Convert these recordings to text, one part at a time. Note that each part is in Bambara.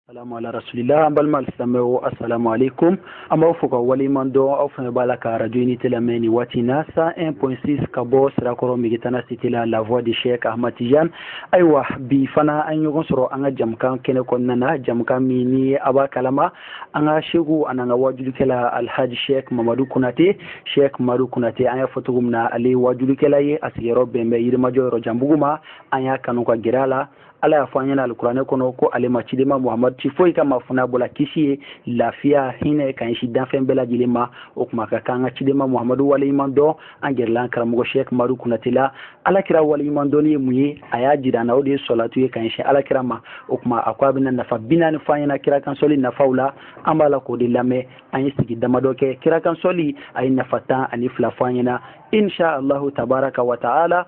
salamu ala rasulila an balima silamɛw asalamu aleykum an b'aw fo k'aw waleɲuman dɔn aw fana b'a la ka arajo unité lamɛn nin waati na san 1.6 ka bɔ sirakɔrɔ megitana site la la voix de chek ahmad tijan ayiwa bi fana an ɲɔgɔn sɔrɔ an ka jamukan kɛnɛ kɔnɔna na jamukan min ni a b'a kalama an ka seku an'an ka wajulikɛla alhaji shek mamadu konate shek madu konate an y'a fɔ cogo min na ale wajulikɛla ye a sigiyɔrɔ bɛ bɛn yirimajɔ yɔrɔjanbugu ma an y'a kanu ka gɛrɛ a la ala y'a fɔ an ɲɛna alikuranɛ kɔnɔ ko ale ma cidenba muhamadu ci foyi kama fo n'a y'a bɔ la kisi ye lafiya hinɛ ka ɲɛsi danfɛn bɛɛ lajɛlen ma o tuma an ka kan ka cidenba muhamadu waleɲuman dɔn an gɛrɛla karamɔgɔ shek madu kunate la ala kira waleɲuman dɔnni ye mun ye a y'a jira an na o de ye sɔlatu ye ka ɲɛsin ala kira ma o tuma a ko a bɛna nafa bi naani fɔ an ɲɛna kira kan sɔli nafaw la an b'a la k'o de lamɛn an ye sigi damadɔ kɛ kira kan sɔli a ye nafa tan ani fila fɔ an ɲɛna insha allahu tabaraka wa taala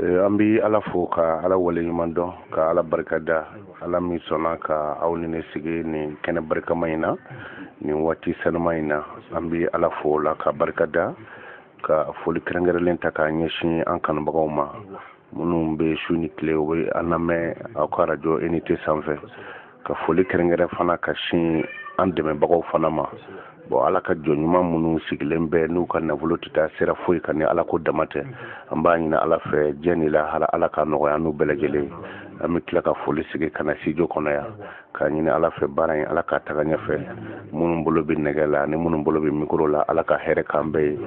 eh, an bɛ ala fo ka ala waleɲuman dɔn ka ala barika da ala min sɔnna ka aw ni ne sigi nin kɛnɛ barikama in na nin waati sanuma in na an bɛ ala fo o la ka barika da ka foli kɛrɛnkɛrɛnlen ta k'a ɲɛsin an kanubagaw ma minnu bɛ su ni tile u bɛ an lamɛn aw ka arajo unité sanfɛ ka foli kɛrɛnkɛrɛn fana ka sin an dɛmɛbagaw fana ma bon ala ka jɔn ɲuman minnu sigilen bɛ n'u ka nafolo tɛ taa sira foyi kan ni ala ko dama tɛ an b'a ɲini ala fɛ diɲɛ ni lahara ala ka nɔgɔya n'u bɛɛ lajɛlen an bɛ tila ka foli segin ka na studio kɔnɔ yan k'a ɲini ala fɛ baara in ala ka taga ɲɛfɛ minnu bolo bɛ nɛgɛ la ani minnu bolo bɛ mikoro la ala ka hɛrɛ k'an bɛɛ ye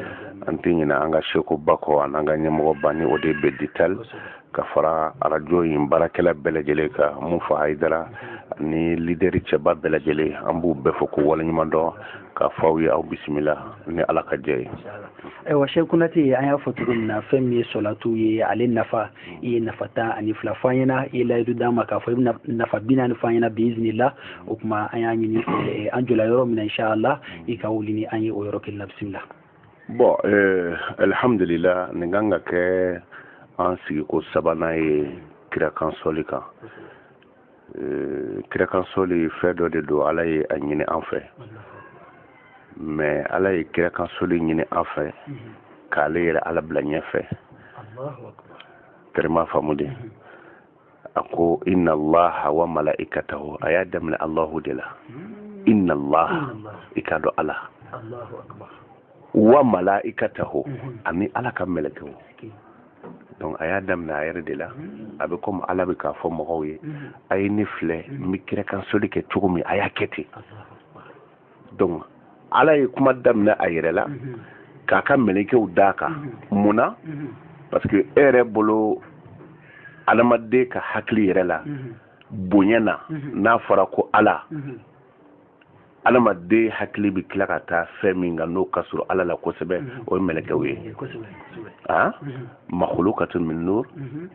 an tɛ ɲinɛ an ka seku ba kɔ an'an ka ɲɛmɔgɔ ba ni o de bɛ ditali ka fara arajo in baarakɛla bɛɛ lajɛlen ka mun fa hayidara ni lideri cɛba bɛɛ lajɛlen an b'u bɛɛ fo k'u waleɲuman dɔn k'a fɔ aw ye aw bisimila ni ala ka jɛn ye ayiwa shek kunate an y'a fɔ cogo min na fɛn min ye sɔlatu ye ale nafa i ye nafa tan ani fila fɔ an ɲɛna i ye layidu d'an ma k'a fɔ i bɛna nafa bi naani fɔ an ɲɛna biizinila o tuma an y'a ɲini an jɔla yɔrɔ min na inshallah i ka wuli ni an ye o yɔrɔ kelen na bisimila bon eh, alihamdulila nin kan ka kɛ an sigiko sabanan ye kirakan sɔli kan eh, kirakan sɔli fɛn dɔ de don ala ye a ɲini an fɛ mais ala ye kirakan sɔli ɲini an fɛ k'ale yɛrɛ ala bila ɲɛfɛ terima faamu dɛ a ko inna allaha wa mala'ikatahu a y'a daminɛ allahu de la inna allah i k'a dɔn ala wa mala'ikatahu mhm. ani ala ka mɛlɛkɛw donc a y'a daminɛ a yɛrɛ de la mhm. a bɛ komi ala bɛ k'a fɔ mɔgɔw ye mhm. a ye ne filɛ n bɛ kirakan sɔli kɛ cogo min a y'a kɛ ten donc ala ye kuma daminɛ a yɛrɛ la mhm. k'a ka mɛlɛkɛw d'a kan mhm. mun na mhm. parce que e yɛrɛ bolo adamaden ka hakili yɛrɛ la bonya na n'a fɔra ko ala adamaden hakili bɛ tila ka taa fɛn min kan n'o ka surun ala la kosɛbɛ o ye mɛlɛkɛw ye makolo ka to min n'o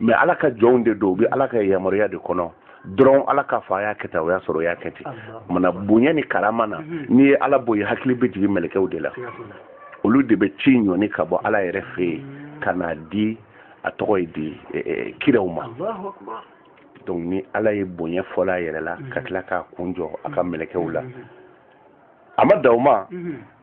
mais ala ka jɔnw de don u bɛ ala ka yamaruya de kɔnɔ dɔrɔn ala k'a fɔ a y'a kɛ tan o y'a sɔrɔ u y'a kɛ ten maana bonya ni karama na mhm. n'i ye ala bɔ yen i hakili bɛ jigin mɛlɛkɛw de la olu de bɛ ci ɲɔni ka bɔ ala yɛrɛ fɛ yen mhm. ka n'a di a tɔgɔ ye di e, e, kiraw ma donc ni ala ye bonya fɔlɔ a yɛrɛ la ka mhm. tila k'a kun jɔ a ka mɛlɛkɛw la a ma dan o ma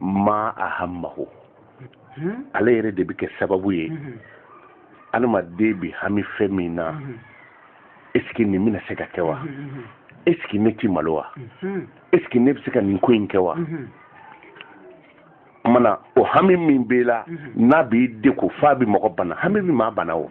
ma ahammahu hmm? ale yɛrɛ de bɛ kɛ sababu ye hmm. adamaden bɛ hami fɛn min na hmm. est ce que nin bɛna se ka kɛ wa est ce que ne ti malo wa est ce que ne bɛ se ka nin ko in kɛ wa maana o hami min b'i la n'a b'i degun f'a bɛ mɔgɔ bana hami bɛ maa bana o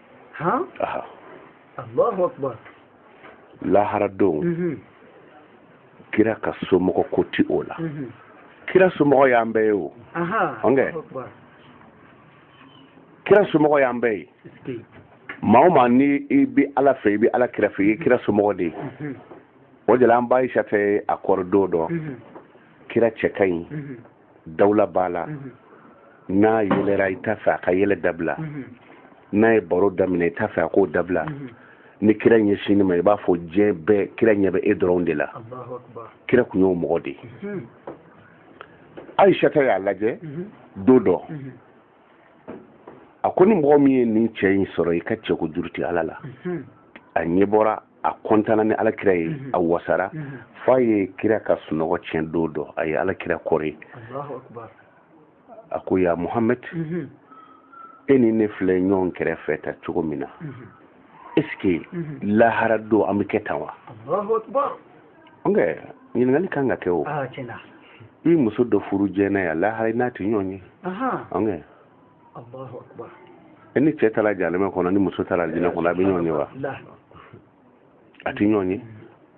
han aha allahu akbar lahara don mhm. kira ka somɔgɔ ko ti o la mhm. kira somɔgɔ y'an bɛɛ ye o ɔnkɛ kira somɔgɔ y'an bɛɛ ye maa o maa ni i bi ala fɛ i bi ala kira fɛ i ye kira somɔgɔ de ye mhm. o de la an ba ayisata a kɔrɔ don dɔ kira cɛ ka ɲi dawula b'a la n'a yɛlɛra i t'a fɛ a ka yɛlɛ dabila n'a ye baro daminɛ i t'a fɛ a k'o dabila ni kira ɲɛsinna i ma i b'a fɔ diɲɛ bɛɛ kira ɲɛ bɛ e dɔrɔn de la kira tun y'o mɔgɔ de ye ayisata y'a lajɛ don dɔ a ko ni mɔgɔ min ye nin cɛ in sɔrɔ i ka cɛko juru tɛ ala la a ɲɛ bɔra a kɔntana ni alakira ye mhm. a wasara mhm. f'a ye kira ka sunɔgɔ tiɲɛ don dɔ a ye alakira kɔri a ko ya muhamad mhm. e ni ne filɛ ɲɔgɔn kɛrɛfɛ tan cogo min na est ce que lahara don an bɛ kɛ tan wa ɔnkɛ ɲininkali kan ka kɛ o ah, i muso dɔ furu diɲɛ yan lahara i n'a tɛ ɲɔgɔn ye ɔnkɛ e ni cɛ taara jahanama kɔnɔ ni muso taara alijinɛ kɔnɔ a bɛ ɲɔgɔn ye wa a tɛ ɲɔgɔn ye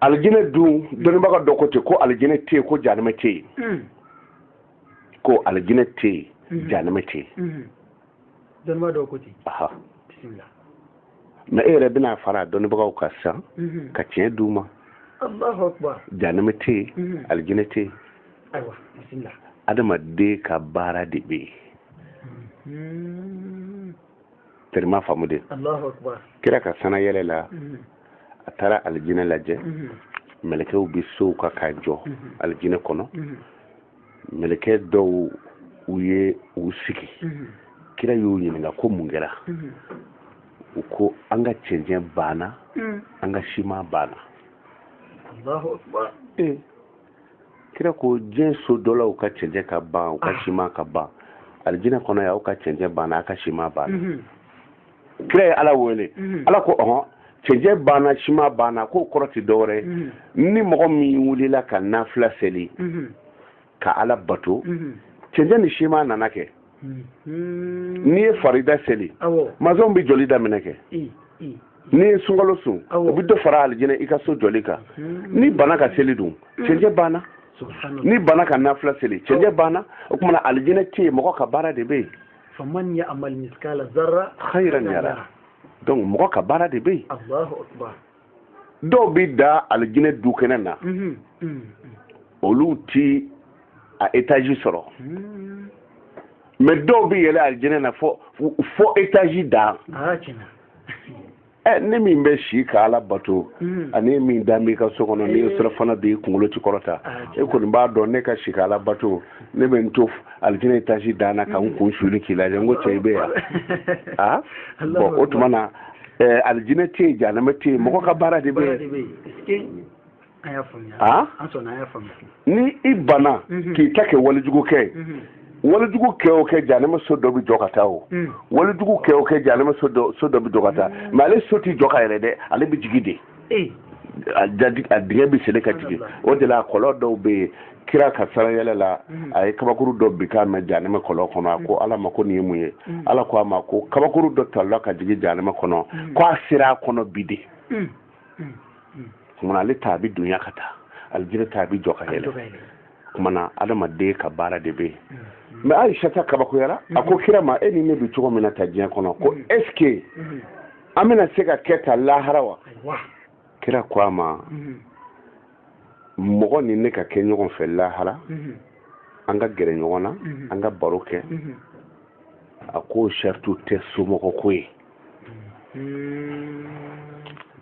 alijinɛ dun dɔnnibaga dɔ ko ten ko alijinɛ tɛ yen ko jahanama tɛ yen hmm. ko alijinɛ tɛ yen hmm. jahanama tɛ yen hmm. dɔnnibaga dɔ ko ten mais e yɛrɛ bɛna fara dɔnnibagaw kan sisan ka tiɲɛ d'u ma jahanama tɛ yen alijinɛ tɛ yen ayiwa bisimila adamaden ka baara de bɛ yen terima faamu dɛ allahu akbar kira ka sanna yɛlɛ la a taara alijinɛ lajɛ mɛlɛkɛw bɛ sow kan ka jɔ alijinɛ kɔnɔ mɛlɛkɛ dɔw u ye u sigi kira y'u ɲininka ko mun kɛra u ko an ka cɛncɛn banna an ka siman banna kira ko diɲɛ so jɔla u ka cɛncɛn ka ban u ka ah. siman ka ban alijinɛ kɔnɔ yan aw ka cɛncɛn banna a ka siman banna mhm. kira ye ala wele mhm. ala ko ɔhɔn cɛncɛn banna siman banna k'o kɔrɔ tɛ dɔwɛrɛ ye mhm. ni mɔgɔ min wulila ka nafila seli ka ala bato cɛncɛn ni siman nana kɛ n'i ye farida seli masɔnw bɛ jɔli daminɛ kɛ n'i ye sunkalo sun o bɛ dɔ fara alijinɛ i ka so jɔli kan n'i banna ka seli dun cɛncɛn banna n'i banna ka nafila seli cɛncɛn banna o tuma na alijinɛ tɛ yen mɔgɔ ka baara de bɛ yen faman ya amal miskala zarra khairan yara donc mɔgɔ ka baara de bɛ yen allahu akbar dɔw bɛ da alijinɛ du kɛnɛ na mhm, mhm, mhm. olu ti a etaji sɔrɔ mɛ dɔw bɛ yɛlɛ alijinɛ na fo fo etaji dan ah, ɛ ne min bɛ si ka ala bato mm. ani e min da b'i ka so kɔnɔ n'i ye eh. surafana dun i kunkolo ti kɔrɔta ah, e kɔni b'a dɔn ne ka si ka ala bato ne bɛ n to alijinɛ etaji dan na ka n mm. kun suli k'i lajɛ n ko cɛ i bɛ yan a bɔn o tuma na alijinɛ tɛ yen janama tɛ yen mɔgɔ ka baara de bɛ yen ni i banna mhm. k'i ta kɛ walijugu kɛ mhm. walijugu kɛ o kɛ janɛma so dɔ bɛ jɔ ka taa o mhm. walijugu kɛ o kɛ janɛma so dɔ bɛ jɔ ka taa mɛ ale so ti jɔ ka yɛlɛ dɛ ale bɛ jigi de eh. a dingɛ bɛ sele ka jigin o de la kɔlɔn dɔw bɛ yen kira ka sarayɛlɛ la a ye kabakuru dɔ bin kan mɛn janɛmɛ kɔlɔn kɔnɔ a ko ala ma ko nin ye mun ye ala ko a ma ko kabakuru dɔ talila ka jigin janɛmɛ kɔnɔ ko a sera a kɔnɔ bi de kumana ale ta a bɛ dunya ka taa alijinɛ ta a bɛ jɔ ka yɛlɛ kumana adamaden ka baara de bɛ yen mɛ ayisata kabakoyara a ko kira ma e ni ne bɛ cogo min na tan diɲɛ kɔnɔ ko ɛsike an bɛna se ka kɛ tan lahara wa kira ko a ma mɔgɔ ni ne ka kɛ ɲɔgɔn fɛ lahara mhm. an ka gɛrɛ ɲɔgɔn na mhm. an ka baro kɛ mhm. a k'o sarati tɛ somɔgɔ ko ye i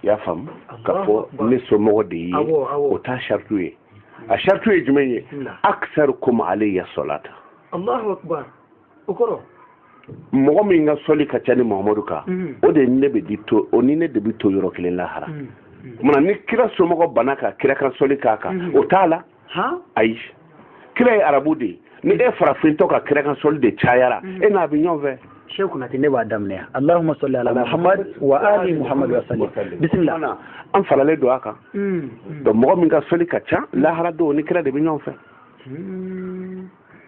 y'a faamu k'a fɔ ne somɔgɔ de ye o t'a sarati ye a sarati ye jumɛn ye akisarikum alaya salata o kɔrɔ mɔgɔ min ka sɔli ka ca ne mahamadu kan mm. o de ne bɛ di to o ni ne de bɛ to yɔrɔ kelen lahara mm. tuma na ni kira somɔgɔ banna ka kira kan sɔli k'a kan mm. o t'a la ayi kira ye arabu de ye ni e farafintɔ ka kira kan sɔli de cayara e n'a bɛ ɲɔgɔn fɛ sheikh kunate ne b'a daminɛ allahumma salli ala muhammad wa ali muhammad wa sallim bisimila an falalen don a kan donc mɔgɔ min ka sɔli ka ca lahara don o ni kira de bɛ ɲɔgɔn fɛ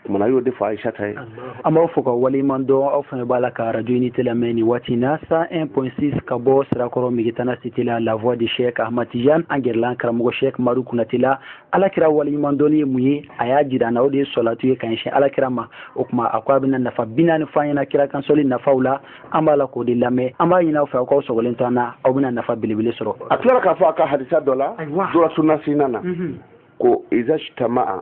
tuma na a y'o de fɔ ayisata ye an b'aw fo ka waleɲuman dɔn aw fana b'a la ka arajo unité lamɛn nin waati na 101.6 ka bɔ sirakɔrɔ megetana cité la la voix de chek ahmad tijan an gɛrɛla an karamɔgɔ chek madu kunate la ala kira waleɲuman dɔnni ye mun ye a y'a jira an na o de ye sɔlatu ye ka ɲɛsin ala kira ma o tuma a ko a bɛna nafa bi naani fɔ an ɲɛ na kira kan sɔli nafaw la an b'a la k'o de lamɛn an b'a ɲini aw fɛ aw k'aw sɔgɔlen to an na aw bɛna nafa belebele sɔrɔ a tilala k'a fɔ a ka hadisa dɔ la durratu nasihina na ko izajtama'a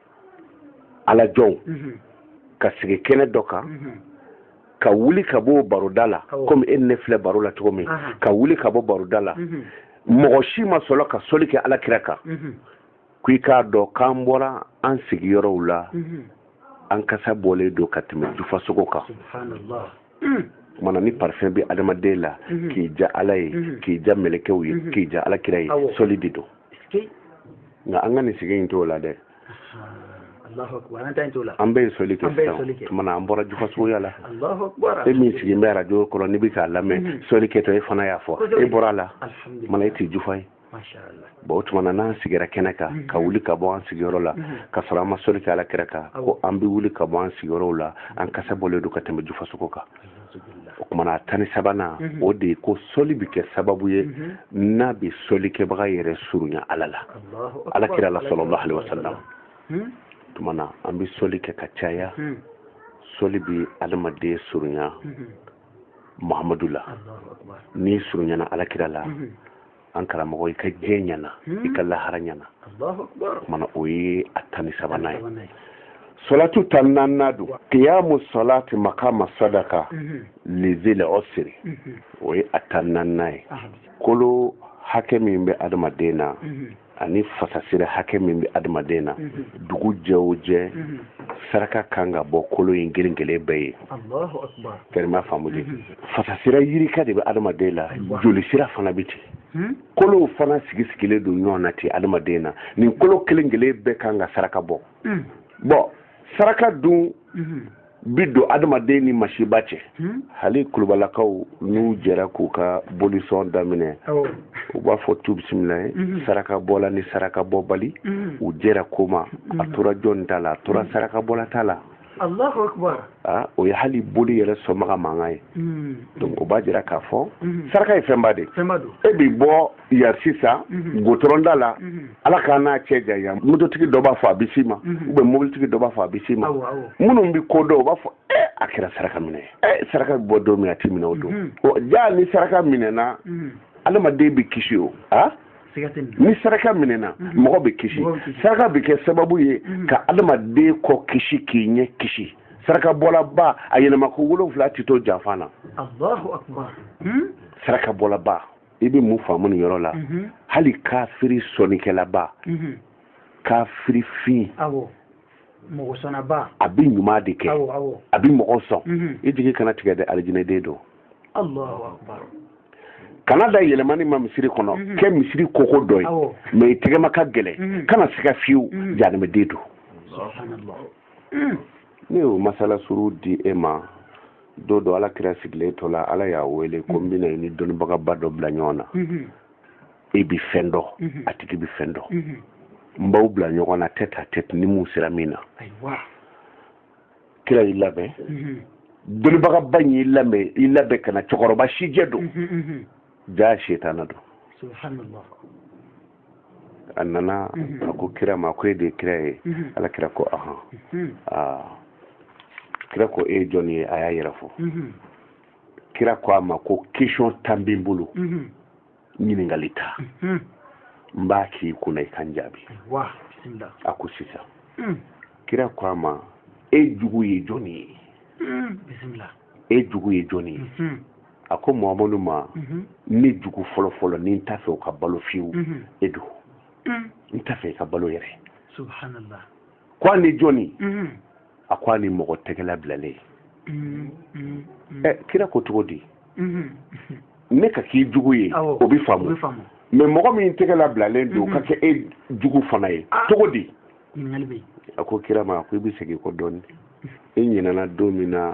ala jɔnw mhm. ka sigi kɛnɛ dɔ kan mhm. ka wuli ka bɔ baroda la komi e ni ne filɛ baro la cogo min ka wuli ka bɔ baroda la mhm. mɔgɔ si ma sɔrɔ ka soli kɛ ala kira kan ko i k'a dɔn k'an bɔra an sigiyɔrɔw la an kasa bɔlen don ka tɛmɛ jufasogo kan mm. tuma na ni parfum bɛ adamaden la k'i diya ala ye k'i diya mɛlɛkɛw ye k'i diya ala kira ye soli de don nka an ka nin sigi in t'o la dɛ an bɛ soli kɛ sisan tuma na an bɔra jufasogoya la e min sigilen bɛ arajo kɔrɔ n'i bɛ k'a lamɛn mhm. soli kɛtɔ e fana y'a fɔ e bɔra a la tuma na e tɛ jufa ye bon o tuma na n'an sigira kɛnɛ kan mhm. ka wuli ka bɔ an sigiyɔrɔ la mhm. ka sɔrɔ an ma soli kɛ ala kira kan ko an bɛ wuli ka bɔ an sigiyɔrɔw la an kasa bɔlen don ka tɛmɛ jufasogo kan o tuma na a tan ni sabanan mhm. o de ye ko sɔli bɛ kɛ sababu ye mhm. n'a bɛ sɔlikɛbaga yɛrɛ surunya ala la ala kira la sallallahu alayhi wa sallam mhm. tuma na an bɛ sɔli kɛ ka caya sɔli bɛ adamaden surunya muhamadu la n'i surunyana ala kira la an karamɔgɔ i ka diɲɛ ɲɛna i ka lahara ɲɛna tuma na o ye a tan ni sabanan ye solatu tan ni naaninan don kiyamu solati makama sadaka lizil usri o ye a tan ni naaninan ye kolo hakɛ min bɛ adamaden na ani fasasira hakɛ min bɛ adamaden na dugu jɛ o jɛ saraka kan ka bɔ kolo in kelen kelen bɛɛ ye fɛrɛma faamu de fasasira yirika de bɛ adamaden la joli sira fana bɛ ten hmm? kolow fana sigi sigilen don ɲɔgɔn na ten adamaden na nin kolo kelen kelen bɛɛ kan ka saraka bɔ hmm. bon saraka dun hmm. bɛ don adamaden ni masiba cɛ hali kulubalakaw n'u jɛra k'u ka bolisɔn daminɛ u b'a fɔ tu bisimila ye saraka bɔla ni saraka bɔbali u jɛra ko ma a tora jɔn ta la a tora saraka bɔla ta la Allahu akbar ah, o ye hali boli yɛrɛ sɔnbaga mankan ye hmm. donc o b'a jira k'a fɔ hmm. saraka ye fɛnba de ye e bi bɔ yan sisan hmm. gudɔrɔnda la ala k'an n'a cɛ janya mototigi dɔ b'a fɔ a bɛ s'i ma ou bien mobilitigi dɔ b'a fɔ a bɛ s'i ma minnu bɛ ko dɔn u b'a fɔ e a kɛra saraka minɛ ye e saraka bɛ bɔ don min a tɛ minɛ o don jaa ni saraka minɛna adamaden bɛ kisi o a ah? ni saraka minɛna mhm. mɔgɔ bɛ kisi saraka bɛ kɛ sababu ye mhm. ka adamaden kɔ kisi k'i ɲɛ kisi saraka bɔlaba a yɛlɛma ko wolonwula tɛ to janfa na hmm? saraka bɔlaba i bɛ mun faamu nin yɔrɔ la mhm. hali kafiri sɔnnikɛlaba kafiri fin mɔgɔ sɔnnaba a bɛ ɲuman de kɛ a bɛ mɔgɔ sɔn i jigi kana tigɛ dɛ alijinɛden don kana da yɛlɛmani ma misiri kɔnɔ mhm. kɛ misiri koko dɔ ye mɛ i tɛgɛma ka gɛlɛn mhm. kana siga fiyewu mhm. jahanamaden don ne y'o masala surun di e ma don dɔ ala kira sigilen to la ala y'a wele ko n bɛna i ni dɔnnibagaba dɔ bila ɲɔgɔn na e bi fɛn dɔn a tigi bi fɛn dɔn n b'aw bila ɲɔgɔn na tête-à-tête ni min sera min na kira y'i labɛn dɔnnibagaba in y'i labɛn i labɛn ka na cɛkɔrɔba sijɛ don jaa setana don subhanallah a nana a ko kira ma ko e de ye kira ye ala kira ko ahan kira ko e ye jɔn ye a y'a yɛrɛ fɔ kira ko a ma ko question tan bɛ n bolo ɲininkali tan mhm. n b'a k'i kunna i ka n jaabi a ko sisan mm. kira ko a ma e jugu ye jɔni ye mm, e jugu ye jɔni ye mhm. a ko mamadu ma mhm. ne jugu fɔlɔfɔlɔ ni n t'a fɛ o ka balo fiyewu mhm. e don mm. n t'a fɛ i ka balo yɛrɛ subhanallah ko a ni jɔni a ko a ni mɔgɔ tɛgɛ labilalen mm, mm, mm. ɛ kira ko cogo di mm-hmm. ne ka k'i jugu ye o bɛ faamu mɛ mɔgɔ min tɛgɛ labilalen don o ka mm-hmm. kɛ e jugu fana ye ah. cogo di a ko kira ma a ko i bɛ segin kɔ dɔɔni i ɲinɛna don min na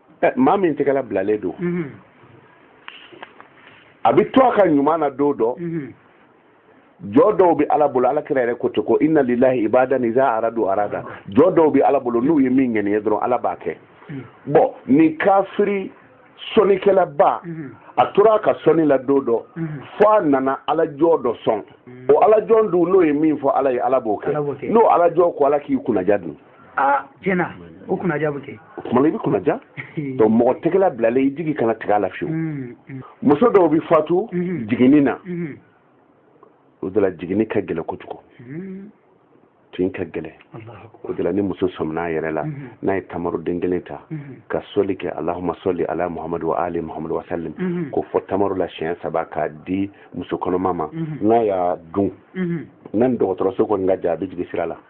maa min tɛgɛ labilalen don a bɛ to a ka ɲuman na don dɔ jɔn dɔw bɛ ala bolo ala kira yɛrɛ ko ten ko inna lillahi ibadan iza aradu arada jɔn dɔw bɛ ala bolo n'u ye min ŋaniye dɔrɔn ala b'a kɛ bon nin kafiri sɔnnikɛlaba a tora a ka sɔnni la don dɔ fo a nana alajɔn dɔ sɔn o alajɔn dun n'o ye min fɔ ala ye ala b'o kɛ n'o alajɔn ko ala k'i kunnadiya dun aa tiɲɛ na o kunnaja bɛ kɛ o tuma na i bɛ kunnaja donc mɔgɔ tɛgɛla bilalen i jigi kana tigɛ a la fiyewu mm, mm. muso dɔw bɛ fatu mm-hmm. jiginni na mm-hmm. o de la jiginni ka gɛlɛn kojugu mm-hmm. tin ka gɛlɛn o de la ni muso sɔminna a yɛrɛ la n'a ye tamaroden kelen ta ka sɔli kɛ alahuma sɔli ala muhamadu wa ali muhamadu wa salim k'o fɔ tamaro la siɲɛ saba k'a di muso kɔnɔma ma n'a y'a dun n'a ni dɔgɔtɔrɔso kɔni ka jan a bɛ jigi sira la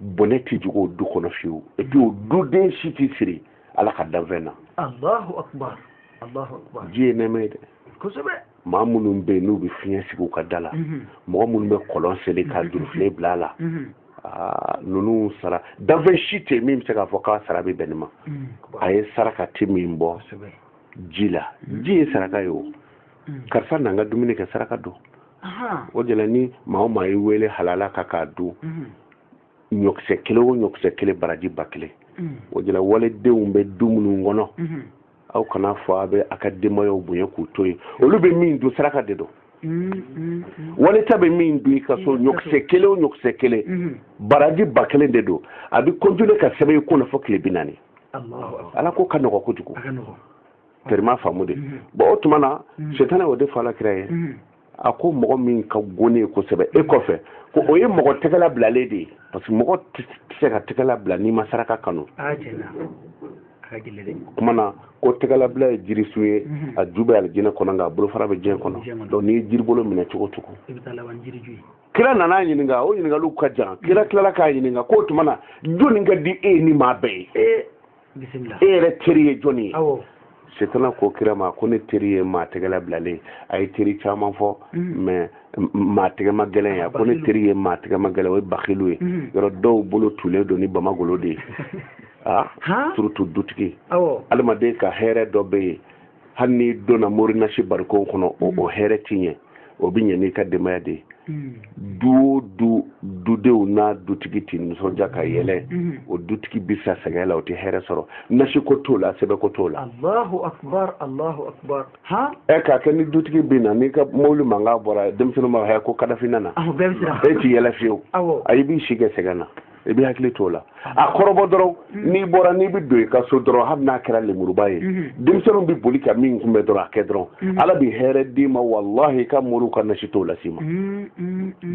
bɔnɛ tɛ jigin o du kɔnɔ fiyewu et puis o duden si tɛ siri ala ka danfɛn na alahu akubar alahu akubar ji ye nɛɛma ye dɛ kosɛbɛ maa minnu bɛ yen n'u bɛ fiɲɛ sigi u ka da la mhm. mɔgɔ minnu bɛ kɔlɔn sen ka mhm. jurufilen bila a la mhm. ah, ninnu sara danfɛn si tɛ yen min bɛ se k'a fɔ k'a sara bɛ bɛn nin ma ayi saraka tɛ min bɔ ji la ji ye saraka ye o hmm. karisa na an ka dumuni kɛ saraka don o de la ni maa o maa y'i wele halala kan k'a dun hmm. ɲɔkisɛ kelen o ɲɔkisɛ kelen baraji ba kelen hmm. o de la walidenw bɛ du minnu kɔnɔ aw kana fɔ a bɛ a ka denbayaw bonya k'u to yen olu bɛ min dun saraka de don waliden bɛ min dun i ka so ɲɔkisɛ kelen o ɲɔkisɛ kelen baraji ba kelen de don a bɛ continuer ka sɛbɛn i kun na fo tile bi naani ala ko ka nɔgɔ kojugu terima faamu de mhm. bon o tuma na mhm. setana y'o de fɔ ala kira ye mhm. a ko mɔgɔ min ka go ne ye kosɛbɛ e kɔfɛ ko o ye mɔgɔ tɛgɛla bilalen de ye parce que mɔgɔ tɛ se ka tɛgɛla bila n'i ma saraka kanu kuma na ko tɛgɛlabila ye jirisun ye a ju bɛ alijinɛ kɔnɔ nka a bolofara bɛ diɲɛ kɔnɔ donc n'i ye jiribolo minɛ cogo o cogo kira nana a ɲininka o ɲininkaliw ka jan kira tilala k'a ɲininka k'o tuma na jɔni ka di e ye ni maa bɛɛ ye e yɛrɛ teri ye jɔni ye setana ko kira ma ko ne teri ye maa tɛgɛla bilalen a ye teri caman fɔ mm-hmm. mais maa tɛgɛma gɛlɛn ye a ko ne teri ye maa tɛgɛma gɛlɛn o ye bakilu ye mm-hmm. yɔrɔ dɔw bolo tulen don ni bamagolo de ye a ah, surtout dutigi adamaden ka hɛrɛ dɔ bɛ yen hali n'i donna mori nasi barikow kɔnɔ o mm. hɛrɛ tɛ ɲɛ o bɛ ɲɛ n'i ka denbaya de ye mm. du o du dudenw n'a dutigi tɛ nisɔndiya ka yɛlɛ mm. o dutigi bɛ sa sɛgɛn la o tɛ hɛrɛ sɔrɔ nasi ko t'o la sɛbɛn ko t'o la. alahu akubar alahu akubar. ɛ k'a kɛ ni dutigi bɛ na n'i ka mobili mankan bɔra denmisɛnninw b'a fɔ ko kadafi nana. awɔ bɛɛ bɛ siran. e tɛ yɛlɛ fiyewu. awɔ ayi i b'i si kɛ sɛgɛn na. i b'i hakili t'o la a kɔrɔbɔ dɔrɔn mm-hmm. n'i bɔra n'i bɛ don i ka so dɔrɔn hali n'a kɛra lemuruba ye mm-hmm. denmisɛnninw bɛ boli ka min kunbɛ dɔrɔn a kɛ dɔrɔn mm-hmm. ala bɛ hɛrɛ d'i ma walahi i ka moriw ka nasi t'o las'i ma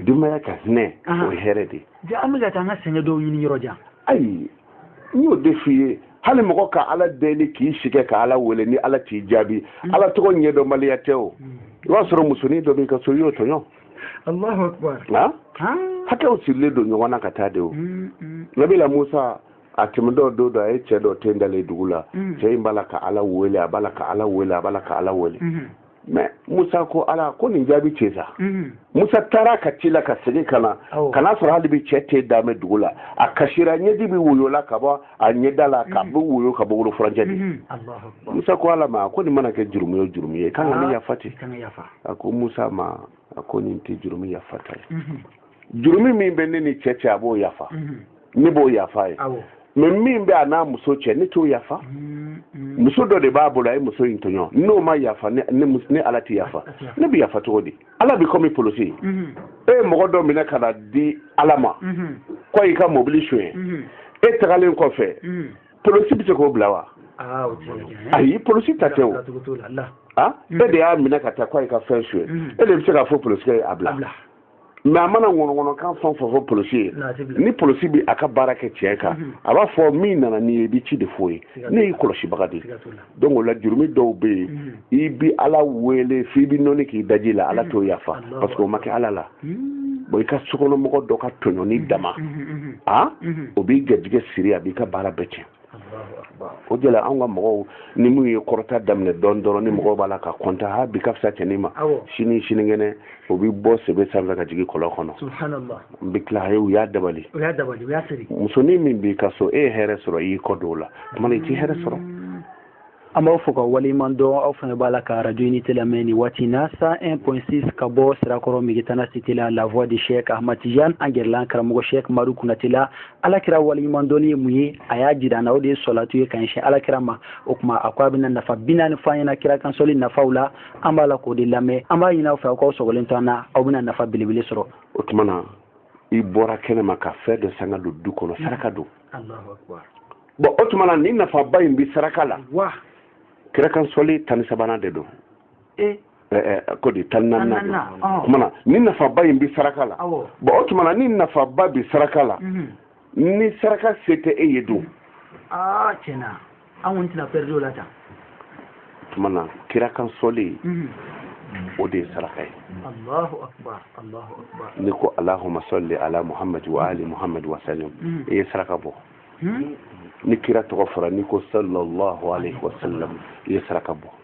denbaya ka hinɛ o ye hɛrɛ de ye an bɛ ka taa an ka sɛgɛn dɔw ɲini yɔrɔ jan ayi n y'o de f'i ye hali mɔgɔ ka ala deli k'i si kɛ ka ala wele ni ala t'i jaabi ala tɔgɔ ɲɛdɔnbaliya tɛ o i b'a sɔrɔ musonin dɔ b'i ka so i y'o tɔɲɔ Allahu akbar na hakɛw sirilen don ɲɔgɔn na ka taa de o mm, mm. nabila musa a tɛmɛtɔ don dɔ a ye cɛ dɔ ten dalen dugu la mm. cɛ in b'a la ka ala wele a b'a la ka ala wele a b'a la ka ala wele mm-hmm. mɛ musa ko ala ko nin jaabi cɛ sa mm-hmm. musa taara ka tila ka segin ka na ka n'a sɔrɔ hali bi cɛ ten dalen dugu la a kasira ɲɛji bi woyo la ka bɔ a ɲɛda la k'a bɛ woyo ka bɔ wolo furancɛ de musa ko ala ma a ko nin mana kɛ jurumu o jurumu ye kan ka ne yafa ten a ko musa ma a ko nin tɛ jurumu yafata ye jurumu min bɛ ne ni cɛ cɛ a b'o yafa ne b'o yafa a ye mɛ min bɛ a n'a muso cɛ ne t'o yafa muso dɔ de b'a bolo a ye muso in tɔɲɔ n'o ma yafa ne ala tɛ yafa ne bɛ yafa cogo di ala bi komi polosi mhm. e ye mɔgɔ dɔ minɛ ka n'a di ala ma mhm. ko a y'i ka mobili suɲɛ mhm. e tagalen kɔfɛ polosi bɛ se k'o bila wa ah, ayi polosi ta tɛ o ah, e de y'a minɛ ka taa ko a y'i ka fɛn suɲɛ e de bɛ se k'a fɔ polosikɛ ye a bila mɛ a mana ŋɔnɔŋɔnɔkan fɛn o fɛn fɔ polosi ye ni polosi bɛ a ka baara kɛ tiɲɛ kan a b'a fɔ min nana n'i ye i bɛ ci de f'o ye ne y'i kɔlɔsibaga de ye donc o la jurumi dɔw bɛ yen mm. i bi ala wele f'i bi nɔni k'i daji la ala mm. t'o yafa parce que o ma kɛ ala la mm. bon i ka sokɔnɔmɔgɔ dɔ ka tɔɲɔni dama a o b'i garijɛgɛ siri a b'i ka baara bɛɛ tiɲɛ o de la anw ka mɔgɔw ni minnu ye kɔrɔta daminɛ dɔɔni dɔrɔn ni mɔgɔw b'a la ka kɔntan ha bi ka fisa cɛnin ma sini sinikɛnɛ o bɛ bɔ sebe sanfɛ ka jigin kɔlɔn kɔnɔ n bɛ tila u y'a dabali musonin min b'i ka so e ye hɛrɛ sɔrɔ i y'i kɔ don o la tuma i t'i hɛrɛ sɔrɔ mm. an b'aw fo k'aw waleɲuman dɔn aw fana b'a la ka arajo unité lamɛn nin waati in na 101.6 ka bɔ sirakɔrɔ migetana cité la la voix de chek ahmatijan an gɛrɛla an karamɔgɔ chek madu kunate la ala kira waleɲuman dɔnni ye mun ye a y'a jira an na o de ye sɔlatu ye ka ɲɛsin ala kira ma o tuma a ko a bɛna nafa bi naani fɔ an ɲɛna kira kan sɔli nafaw la an b'a la k'o de lamɛn an b'a ɲini aw fɛ aw k'aw sɔgɔlen to an na aw bɛna nafa belebele sɔrɔ o tuma na i bɔra kɛnɛ ma ka fɛn dɔ san ka don du kɔnɔ saraka don bɔn o tuma na ni nafaba in bɛ saraka la kira kan sɔli tan ni sabanan de don e? ko di tan ni naaninan don tuma na ni nafaba in bɛ saraka la bɔn o tuma na ni nafaba bɛ saraka la mhm. ni saraka se tɛ e ye don ah, an kɔni tɛna pɛridi o la tan tuma na kira kan sɔli mhm. o de ye saraka ye Allahu akbar Allahu akbar n'i ko alahuma sɔli ala muhamadu wa ali muhamadu wa salim mhm. i ye saraka bɔ mhm. ni kira tɔgɔ fɔra n'i ko sallallahu alaihi wa sallam i ye saraka bɔ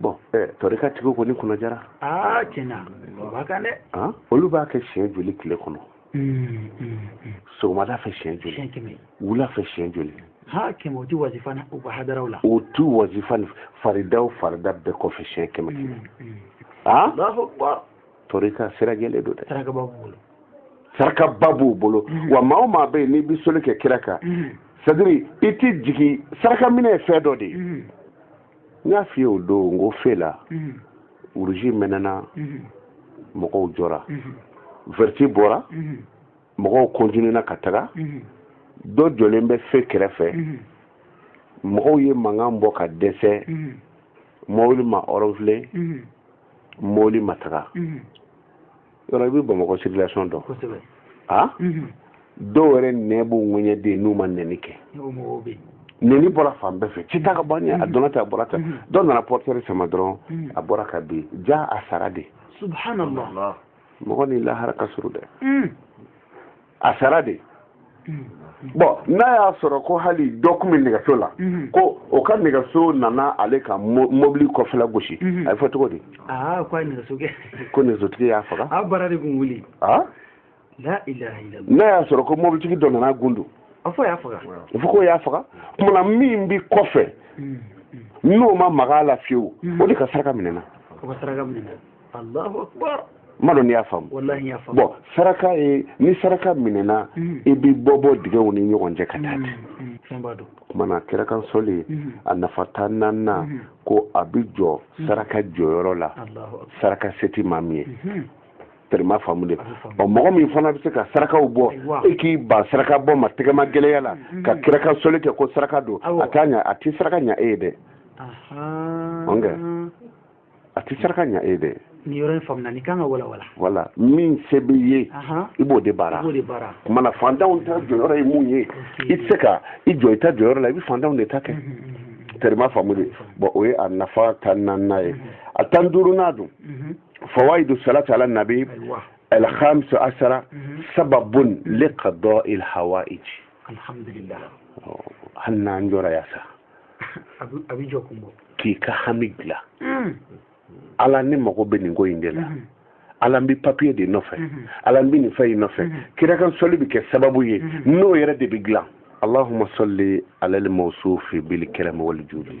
bɔn eh, tɔrika tigiw kɔni kunna diyara aa tiɲɛ na o b'a kan dɛ ah, olu b'a kɛ siɲɛ joli tile kɔnɔ hmm, hmm, hmm. sɔgɔmada fɛ siɲɛ joli wula fɛ siɲɛ joli ha kɛmɛ o ti wazifa u ka hadaraw la o tu wazifa ni faridaw farida bɛɛ kɔfɛ siɲɛ kɛmɛ kɛmɛ a tɔrika sira jɛlen don dɛ sarakaba b'u bolo sarakaba b'u bolo wa maa o maa bɛ yen n'i bɛ sɔli kɛ kira kan c'est-à-dire i ti jigin saraka minɛ ye fɛn dɔ de ye n y'a f'i ye o don n ko fe la uruzi mɛnɛna mɔgɔw jɔra vɛriti bɔra mɔgɔw kɔntinena ka taga dɔ jɔlen bɛ fe kɛrɛfɛ mɔgɔw ye mankan bɔ ka dɛsɛ mɔbili ma ɔrɔnfile mɔbili ma taga yɔrɔ i bɛ bamakɔ circulation dɔn a dɔw yɛrɛ nɛn b'u ŋɛɲɛ dɛ n'u ma nɛni kɛ nɛni bɔra fan bɛɛ fɛ cɛ i ta ka bɔ ɲɛ a donna tan a bɔra tan dɔw nana portière sama dɔrɔn a bɔra ka bin jaa a sara dɛ subhanallah mɔgɔ ni lahara ka surun dɛ a sara dɛ bɔn n'a y'a sɔrɔ ko hali dɔ tun bɛ nɛgɛso la mhm. ko o ka nɛgɛso nana ale ka mobili kɔfɛla gosi mhm. a bɛ fɔ cogo di ah, ko nɛgɛsotigi y'a faga ah, ah? n'a y'a sɔrɔ ko mobilitigi dɔ nana gundu a fɔ k'o y'a faga kuma na min bɛ kɔfɛ mhm. n'o ma maga a la fiyewu o de ka saraka minɛna m'a dɔn n'i y'a faamu bɔn saraka ye n'i saraka minɛna mm. i bɛ bɔ bɔ dingɛw ni ɲɔgɔn cɛ ka taa mm, ten mm, kuma na kira kan sɔli a nafa tan naaninan ko a bɛ jɔ saraka jɔyɔrɔ la saraka se tɛ maa min ye mm-hmm. teri m'a faamu de ɔ mɔgɔ min fana bɛ se ka sarakaw bɔ e k'i ban saraka bɔ ma tɛgɛmagɛlɛya la mm-hmm. ka kira kan sɔli kɛ ko saraka don a t'a ɲa a tɛ saraka ɲa e ye dɛ a tɛ saraka ɲa e dɛ nin yɔrɔ in faamuna nin kan ka walawala voilà min se b'i ye i b'o de baara kuma na fantanw ta jɔyɔrɔ ye mun ye i tɛ se ka i jɔ i ta jɔyɔrɔ la i bɛ fantanw de ta kɛ teri m'a faamu de bɔn o ye a nafa tan naaninan ye a tan duurunan dun fawaidu salati ala nabi al-khamisa ashara sababun liqadɔ il hawaij alhamdulillah oh, hali n'an jɔra yan sa a bɛ jɔkun bɔ k'i ka hami dilan hmm. ala ne mago bɛ nin ko in de la hmm. ala n bɛ papiye de nɔfɛ hmm. ala n bɛ nin fɛn in nɔfɛ kira kan sɔli bɛ kɛ sababu ye n'o yɛrɛ de bɛ dilan allahumma salli ala al-mawsufi bil karam wal judi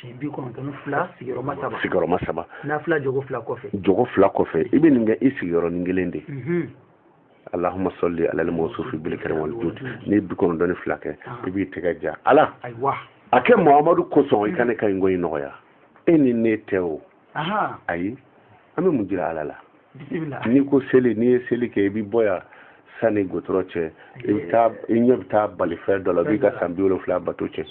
si bi kɔnɔntɔn fila sigiyɔrɔma saba sigiyɔrɔma saba nafila jɔko fila kɔfɛ jɔko fila kɔfɛ i bɛ nin kɛ i sigiyɔrɔnin kelen de mhm. alahuma sɔli alali mɔsufi bilikarami wali judi n'i ye bi kɔnɔntɔn ni fila kɛ ah. i b'i tɛgɛ ja ala a kɛ muhamadu kosɔn i ka ne ka nin ko in nɔgɔya e ni ne tɛ o ayi an bɛ mun jira ala la n'i ko seli n'i ye seli kɛ i bɛ bɔ yan sani gudɔrɔn cɛ i bɛ taa i ɲɛ bɛ taa balifɛn dɔ la b'i ka san bi wolonfila bato cɛn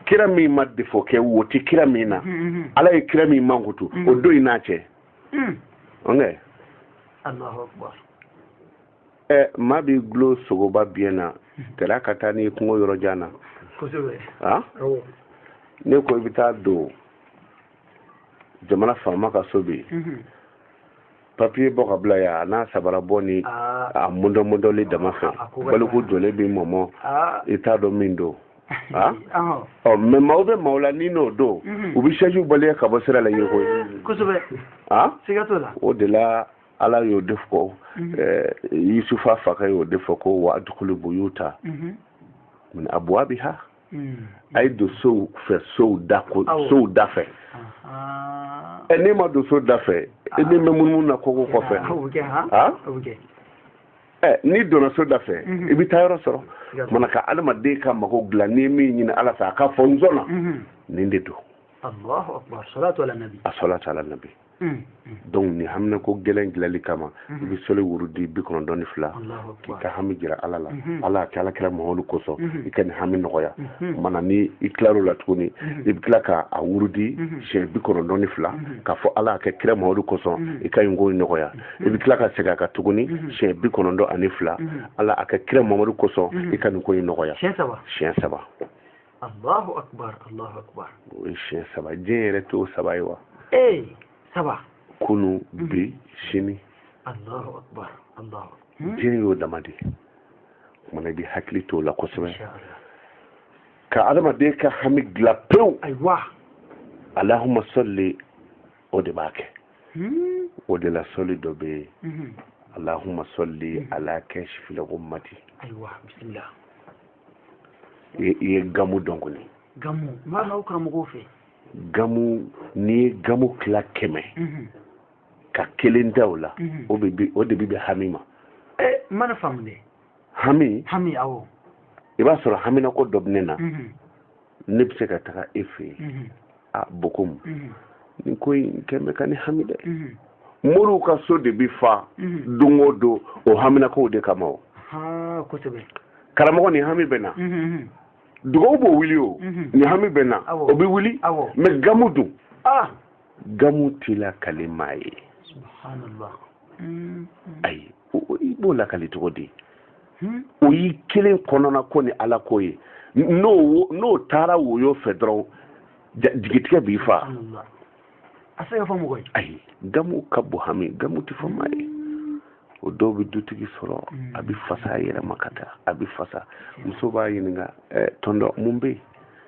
kira min ma defo kɛ wo tɛ kira min na mm-hmm, mm-hmm. ala ye kira min mankutu o mm-hmm. dɔ y'i n'a cɛ ɛ maa b'i gulo sogoba biɲɛ na kɛra ka taa n'i kungo yɔrɔ jan na n'i ko i bɛ taa don jamana faama ka so bi mhm. papiye bɔ ka bila yan a n'a sabara bɔ ni ah. a mɔdɔmɔdɔli dama fɛ ah, baliku jɔlen b'i mɔmɔ ah. i t'a dɔn min don ɔ mɛ maaw bɛ maaw la ni n'o don mhm. u bɛ sɛjiw baleye ka bɔ sira la yiriko ye o de la ala y'o de fɔ mhm. eh, yusufa fakɛ y'o de fɔ ko wa adukulu buyuta mhm. min abwabiha mhm. a ye don sow fɛ sow da ko sow da fɛ ɛ n'e ma don so da fɛ e bɛ mɛn munumunu na kogo kɔfɛ ha ɛ n'i donna so da fɛ i bɛ taa yɔrɔ sɔrɔ mana ka adamaden ka mago dilan n'i ye min ɲini ala fɛ a k'a fɔ n sɔnna nin de don a salatu ala nabi Mm. donc ni haminako gɛlɛn dilali kama mm-hmm. i bɛ sɔli wurudi bi kɔnɔntɔn ni fila k'i ka hami jira ala la mm-hmm. ala a kɛ ala kira muhamadu kosɔn mm-hmm. i ka nin hami nɔgɔya mana ni i tilar'o la tuguni i bɛ tila ka a wurudi siɲɛ bi kɔnɔntɔn ni fila k'a fɔ ala a kɛ kira muhamadu kosɔn i ka nin ko in nɔgɔya i bɛ tila ka segin a kan tuguni siɲɛ bi kɔnɔntɔn ani fila ala a kɛ kira muhamadu kosɔn i ka nin ko in nɔgɔya siɲɛ saba Allahu akbar Allahu akbar o ye siɲɛ saba diɲɛ yɛrɛ t'o saba ye wa ee saba kunun mhm. bi sini Allahu akbar Allahu hmm? diɲɛ y'o dama de ye kumana i bɛ hakili t'o la kosɛbɛ ka adamaden ka hami dilan pewu ayiwa alahuma sɔli o de b'a kɛ hmm? o de la sɔli dɔ bɛ yen mhm. alahuma sɔli mhm. ala kasifili gumati ayiwa bisimila i ye gamu dɔn kɔni gamu n b'a n'aw karamɔgɔw fɛ gamu n'i ye gamu tila kɛmɛ mhm. ka kelen da o la mhm. o de bɛ bɛn hami ma eh, n mana faamu dɛ hami hami awɔ i b'a sɔrɔ haminako dɔ bɛ ne na mhm. ne bɛ se ka taga e fɛ yen a bɛ komi nin ko in kɔni bɛ ka ne hami dɛ moriw ka so de bɛ fa don o don o haminakow de kama o karamɔgɔ ni hami bɛ na dugaw b'o wuli o ni hami bɛ na o bɛ wuli mais gamu dun gamu tɛ lakali maa ye ayi i b'o lakali cogo di hmm? o y'i kelen kɔnɔnako ni ala ko ye n'o n'o taara woyo fɛ dɔrɔn jigitigɛ b'i faa a tɛ se ka fɔ mɔgɔ ye ayi gamu ka bon hami gamu tɛ fɔ maa ye o dɔw bɛ dutigi sɔrɔ hmm. a bɛ fasa a yɛrɛ ma ka taa a bɛ fasa muso b'a ɲininka eh, tɔntɔn mun bɛ yen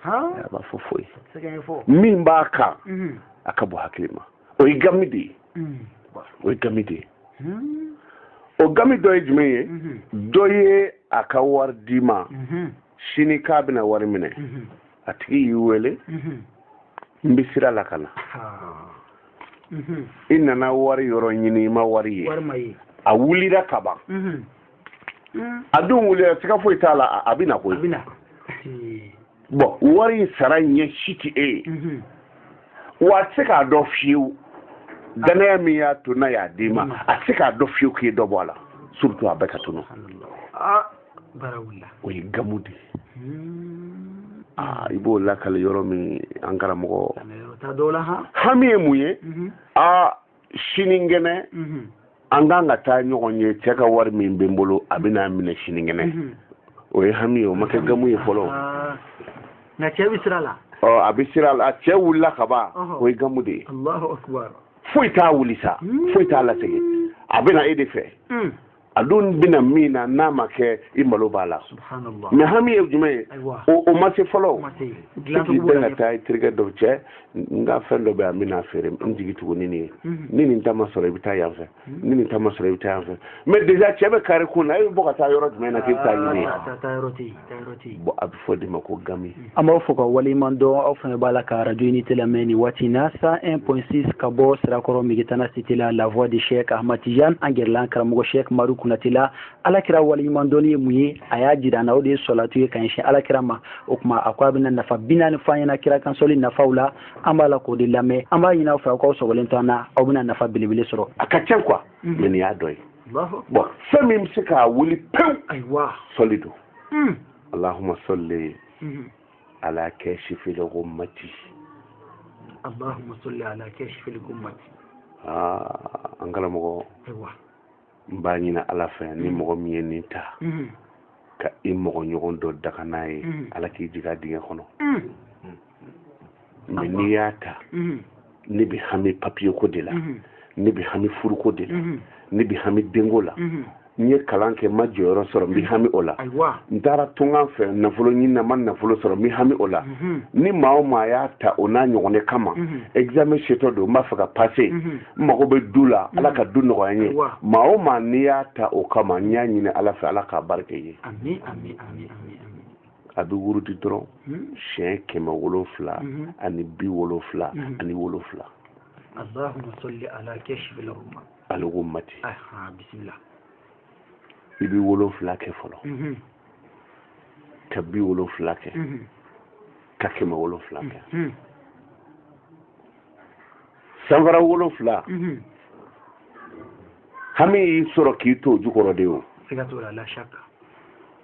a b'a fɔ foyi min b'a kan hmm. a ka bon hakili ma o ye gami de ye o ye gami de ye o gami dɔ ye jumɛn ye dɔ ye a ka wari d'i ma sini k'a bɛna wari minɛ a tigi y'i wele n bɛ sira la ka na i nana wari yɔrɔ ɲini i ma wari ye a wulira ka ban a dun wulila siga foyi t'a la a bɛ na koyi bɔn wari in sara ɲɛ si tɛ e ye mhm. wa a tɛ se k'a dɔn fiyewu danaya min y'a to n'a y'a d'i ma mhm. a tɛ se k'a dɔn fiyewu k'i ye dɔ bɔ a la surtout a bɛɛ ka tunu ah, o ye gamu de ye hmm. ah, i b'o lakali yɔrɔ min an karamɔgɔ hami ye mun ye aa mhm. ah, sinikɛnɛ an kan ka taa ɲɔgɔn ye cɛ ka wari min bɛ n bolo a bɛ n'a minɛ sinikɛnɛ o ye hami ye o ma kɛ gamu ye fɔlɔ nka cɛ bɛ sira la a bɛ sira la cɛ wulila ka ban o ye gamu de ye foyi t'a wuli sa foyi t'a lasegin a bɛ na e de fɛ a dun bɛna min na n'a ma kɛ i malo b'a la mais hami ye jumɛn ye o ma se fɔlɔ k'i bɛn ka taa i terikɛ dɔw cɛ n ka fɛn dɔ bɛ yan n bɛna feere n jigi tugu ni nin ye mhm. ni nin ta ma sɔrɔ i bɛ taa yan fɛ mhm. ni nin ta ma sɔrɔ i bɛ taa yan fɛ mais déjà cɛ bɛ kari i kun na e bɛ bɔ ka taa yɔrɔ jumɛn na k'i bɛ t'a ɲini yen bɔn a bɛ fɔ o de ma ko gami an b'aw fo k'aw waleɲuman dɔn aw fana b'a la ka arajo unité lamɛn nin waati na 101.6 ka bɔ sirakɔrɔ megetana cité la la voix de cheick ahmad tijan an kɛrɛ la an karamɔgɔ cheick oumar konaté la ala kira waleɲuman dɔnni ye mun ye a y'a jira na o de ye salatu ye ka ɲɛsin ala kira ma o tuma a ko a bɛna nafa bi naani fɔ an ɲɛna kira kan seli nafaw la an b'a la k'o de lamɛn an b'a ɲini aw fɛ aw k'aw sɔgɔlen to an na aw bɛna nafa belebele sɔrɔ a ka ca koyi mais nin y'a dɔ ye bon fɛn min bɛ se k'a wuli pewu ayiwa sɔli don hmm. alahuma sɔli hmm. ala kashifil ghummati alahuma sɔli ala kashifil ghummati aa an karamɔgɔ ayiwa n b'a ɲini ala fɛ ni hmm. mɔgɔ min ye nin ta ka i mɔgɔ ɲɔgɔn dɔ danga n'a ye ala k'i jigin a dingɛ kɔnɔ mɛ n'i y'a ta mhm. ne bɛ hami papiye ko de la mhm. ne bɛ hami furuko de la mhm. ne bɛ hami denko la n ye kalan kɛ n ma jɔyɔrɔ sɔrɔ n bɛ hami o la n taara tunkan fɛ nafolo ɲini na n ma nafolo sɔrɔ n bɛ hami o la ni maa o maa y'a ta o n'a ɲɔgɔnna kama examen setɔ don n b'a fɛ ka pase n mago bɛ du la ala ka du nɔgɔya n ye maa o maa n'i y'a ta o kama n y'a ɲini ala fɛ ala k'a barika i ye a bɛ wurudi dɔrɔn hmm. siɲɛ kɛmɛ wolonfila hmm. ani bi wolonfila hmm. ani wolonfila allahumma salli ala kashifil ghummati aha bisimila i bɛ wolonfila kɛ fɔlɔ ka bi wolonfila kɛ ka kɛmɛ wolonfila kɛ sanfara wolonfila hami y'i sɔrɔ k'i to o jukɔrɔ de o siga t'o la la shaka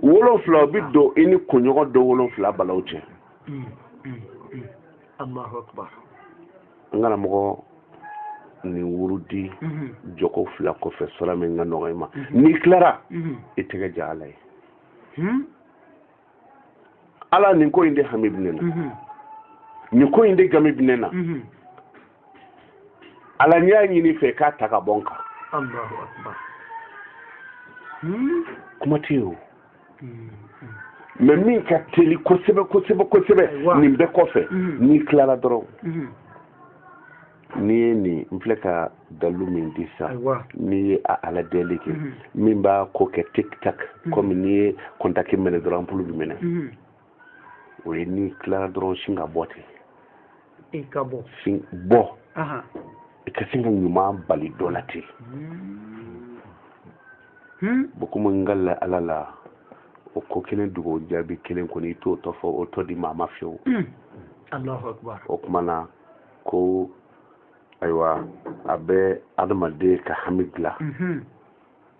wolonfila o bi don i ni kunɲɔgɔn don wolonfila balaw cɛ mm, mm, mm. n karamɔgɔ nin wurudi mm-hmm. jɔko fila kɔfɛ sura min ka nɔgɔ i ma mm-hmm. n'i tilara mm-hmm. i tɛgɛ jan ala ye hmm? ala nin ko in de hami bɛ ne na nin ko in de hami bɛ ne na ala n y'a ɲini i fɛ k'a ta ka bɔ n kan hmm? kuma tɛ yen o hmm, hmm. mɛ min ka teli kosɛbɛ kosɛbɛ kosɛbɛ nin bɛɛ kɔfɛ n'i tilala dɔrɔn n'i ye nin n filɛ ka dalu min di sa n'i ye a ala deli kɛ min b'a ko kɛ tik tak komi n'i ye kɔntaki mɛnɛ dɔrɔn anpulu bi mɛnɛ o ye n'i tilara dɔrɔn sin ka bɔ ten i ka bɔ sin bɔ i ka sin ka ɲuman bali dɔ la ten hmm. hmm. bon komi n ka la ala la o ko kelen dogo jaabi kelen kɔni i t'o tɔ fɔ o tɔ di maa ma fiyewu hmm. o tuma na ko ayiwa a bɛ adamaden ka hami dilan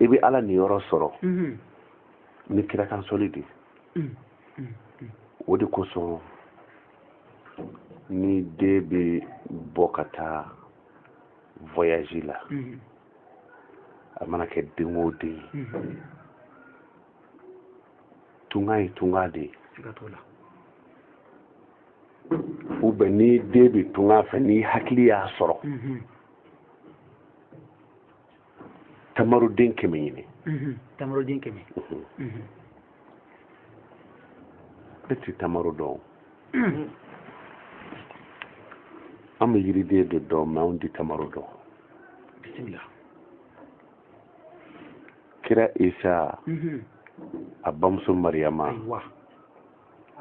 i bɛ ala niyɔrɔ sɔrɔ ni kira kan sɔli de o de kosɔn ni den bɛ bɔ ka taa voyage la a mana kɛ den o den ye tunga ye tunga de ye u bɛ n'i den bɛ tunga fɛ n'i hakili y'a sɔrɔ mhm. tamaroden kɛmɛ ɲini mhm. tamaroden kɛmɛ mhm. ne ti tamaro dɔn an bɛ yiriden de dɔn mɛ anw ti tamaro dɔn bisimila kira isa a bamuso mariyama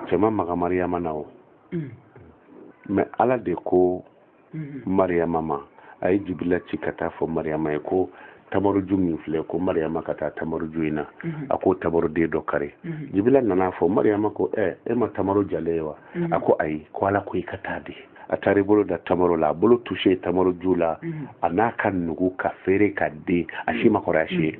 cɛ ma maga mariyama na o mm. mɛ ala de ko mm-hmm. mariyama ma a ye jibila ci ka taa fɔ mariyama ye ko tamaroju min filɛ ko mariyama ka taa tamaroju in na mm-hmm. a ko tamaroden dɔ kari mm-hmm. jibila nana fɔ mariyama ko ɛ e ma tamaro jalen ye wa a ko ayi ko ala ko i ka taa dɛ a taara i bolo da tamaro la a bolo tuse tamaro ju la a n'a ka nugu ka feere ka den a si ma kɔrɔ a si ye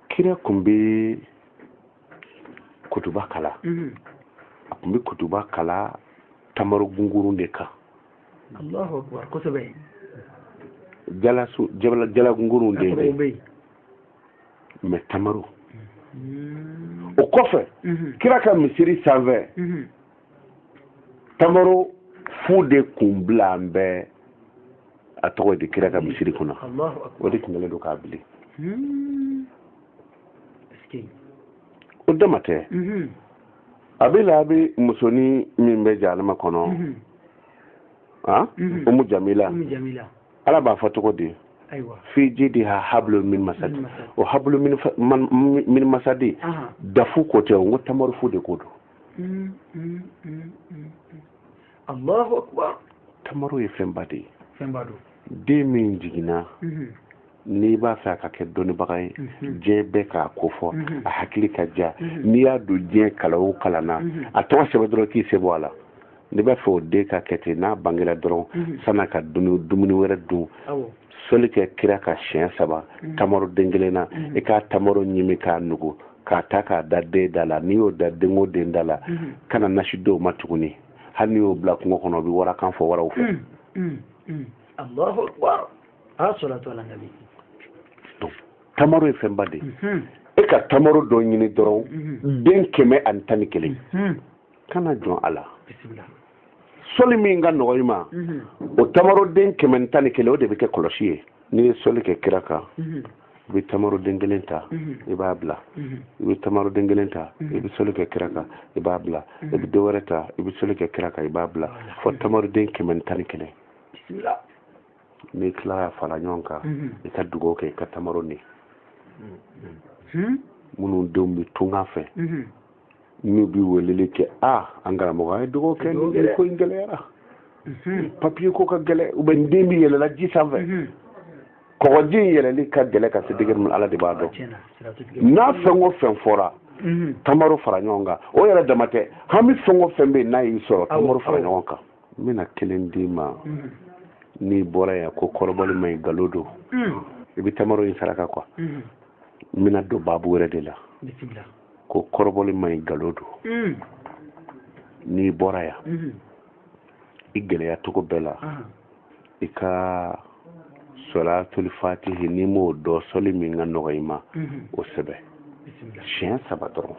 kira kun bɛ kutuba kalan mhm. a kun bɛ kutuba kalan tamaro gungurun de kan allahu akbar jala gungurun de ye mɛ tamaro mhm. o kɔfɛ mhm. kira ka misiri sanfɛ tamaro fu de kun bilalen bɛ a tɔgɔ ye di kira ka misiri kunna o de tun kɛlen don k'a bili hmm. o dama tɛ mhm. abu lahabi musonin min bɛ jahanama kɔnɔ mhm. ah? mhm. umu jamila ala b'a fɔ cogo di fi jidi ha hablu min masadi o hablu min masadi dafu ko tɛ o n ko tamaro fu de ko don Mm, mm, mm, mm, mm. allahu akbar tamaro ye fɛnba de ye fɛnba don den min jiginna Mhm, n'i b'a fɛ a ka kɛ dɔnnibaga ye Mhm. diɲɛ bɛɛ k'a ko fɔ Mhm. a hakili ka ja Mhm. n'i y'a don diɲɛ kalan o kalan na Mhm. a tɔgɔ sɛbɛn dɔrɔn k'i sen bɔ a la n'i b'a fɛ o den ka kɛ ten n'a bangera dɔrɔn Mhm. san'a ka dumuni dumuni wɛrɛ dun awɔ soli kɛ kira kan siɲɛ saba mm. tamaro den kelen na mm. i k'a tamaro ɲimi k'a nugu k'a ta k'a da den da la n'i y'o da den o den da la mm. kana nasi d'o ma tuguni hali n'i y'o bila kungo kɔnɔ o bɛ warakan fɔ waraw fɛ tamaro ye fɛnba de ye mm-hmm. i ka tamaro dɔ ɲini dɔrɔn mm-hmm. den kɛmɛ ani tan ni kelen mm-hmm. kana jɔn a la soli min ka nɔgɔ i ma mhm. o tamaroden kɛmɛ tan ni kelen o de bɛ kɛ kɔlɔsi ye n'i ye soli kɛ kira kan mhm. i bɛ tamaroden kelen ta mhm. i b'a bila i bɛ tamaroden kelen ta i bɛ soli kɛ kira kan i b'a bila i bɛ dɔ wɛrɛ ta i bɛ soli kɛ kira kan i b'a bila fo tamaroden kɛmɛ tan ni kelen n'i tilala fara ɲɔgɔn kan i ka dugawu kɛ i ka tamaro nin minnu denw bɛ tunga fɛ n'u bi weleli kɛ a an karamɔgɔ an ye dɔgɔ kɛ ni ko in gɛlɛyara mhm. papiye ko ka gɛlɛ u bɛ n den bi yɛlɛla ji sanfɛ mhm. kɔgɔji in yɛlɛli ka gɛlɛ ka se degere min ala de b'a dɔn n'a fɛn o fɛn fɔra mhm. tamaro fara ɲɔgɔn kan o yɛrɛ dama tɛ hami fɛn o fɛn bɛ yen n'a y'i sɔrɔ tamaro fara ɲɔgɔn kan n bɛna kelen d'i ma n'i bɔra yan ko kɔrɔbɔli man ɲi galo don i bɛ tamaro in saraka kuwa n bɛna don baabu wɛrɛ de la ko kɔrɔbɔli man ɲi galo don hmm. n'i bɔra yan hmm. i gɛlɛya cogo bɛɛ la i ka sɔlatuli fatihi n'i m'o dɔn sɔli min ka nɔgɔ i ma hmm. o sɛbɛn siɲɛ saba dɔrɔn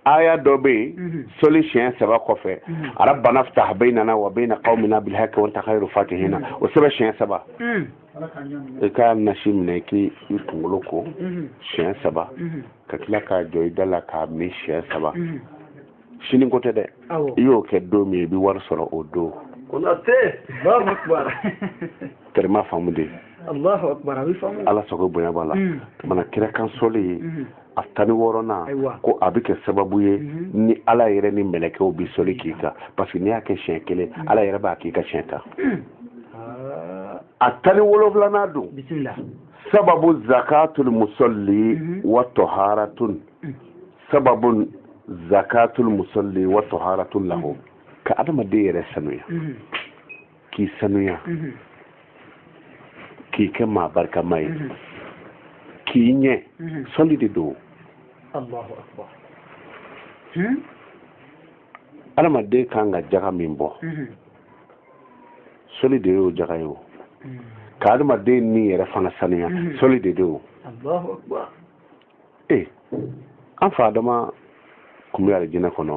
aya dɔ bɛ yen mhm. sɔli siɲɛ saba kɔfɛ mhm. arabana fitaha bɛyinana wa bɛyina kawmina bilhaki wa anta kayuru fatihina mhm. o sɛbɛn siɲɛ saba i ka nasi minɛ k'i kunkolo ko mhm. siɲɛ saba mhm. ka tila k'a jɔ i da la k'a min siɲɛ saba mhm. sini ko tɛ dɛ i y'o kɛ don min i bɛ wari sɔrɔ o don tɛrɛma faamu de ala sago bonya b'a la mana kira kan sɔli ye a tan ni wɔɔrɔnan ko a bɛ kɛ sababu ye mhm. ni ala yɛrɛ ni mɛlɛkɛw bɛ sɔli k'i kan parce que n'i y'a kɛ siɲɛ kelen mhm. ala yɛrɛ b'a k'i kan siɲɛ tan ah. a tan ni wolonfilanan don sababu zakatul musalli mhm. wa taharatun sababu zakatul musalli wa taharatun lahu ka adamaden yɛrɛ sanuya k'i sanuya mhm. k'i kɛ maa barikama ye mhm. k'i ɲɛ mhm. sɔli de don adamaden hmm? kan ka jaga min bɔ sɔli de y'o jaga ye o ka adamaden ni yɛrɛ fana sanuya sɔli de don o ee an fa adama kun bɛ alijinɛ kɔnɔ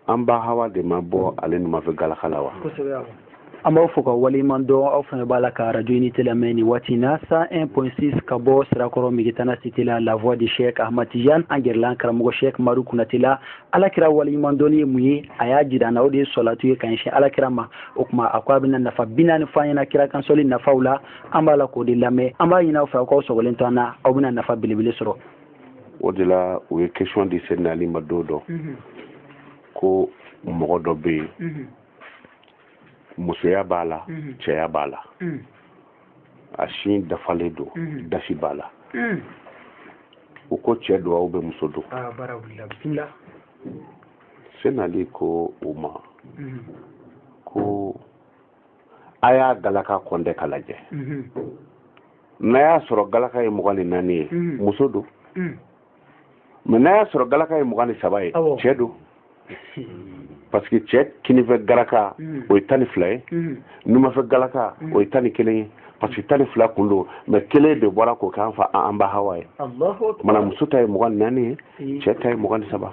an ba hawa de ma bɔ ale numanfɛ galaka la wa an b'aw fo ka waleɲuman dɔn aw fana b'a la ka radio unité lamɛn nin waati in na 101.6 ka bɔ sirakɔrɔ migitana site la la voix de chek ahmad tijan an gɛrɛla an karamɔgɔ chek madu kunate la alakira waleɲuman dɔnni ye mun ye a y'a jira an na o de ye sɔlatu ye ka ɲɛsin alakira ma o tuma a ko a bɛna nafa bi naani fɔ an ɲɛna kira kan sɔli nafaw la an b'a la k'o de lamɛn an b'a ɲini aw fɛ aw k'aw sɔgɔlen to an na aw bɛna nafa belebele sɔrɔ o de la u ye question di seyina ali ma don dɔ mhm. ko mɔgɔ dɔ bɛ yen mhm. musoya b'a la mhm. cɛya b'a la a sin dafalen don dasi b'a la u ko cɛ don ou bien muso don ah, seyina ali ko u ma ko a y'a galaka kɔntɛ ka lajɛ mhm. n'a y'a sɔrɔ galaka ye mugan ni naani ye mhm. muso don mhm. mais n'a y'a sɔrɔ galaka ye mugan ni saba ye cɛ don parce que cɛ kininfɛ galaka o ye tan ni fila ye numanfɛ galaka o ye tan ni kelen ye parce que tan ni fila kun don mais kelen de bɔra k'o k'an fa an ba hawa ye mana muso ta ye mugan ni naani ye cɛ ta ye mugan ni saba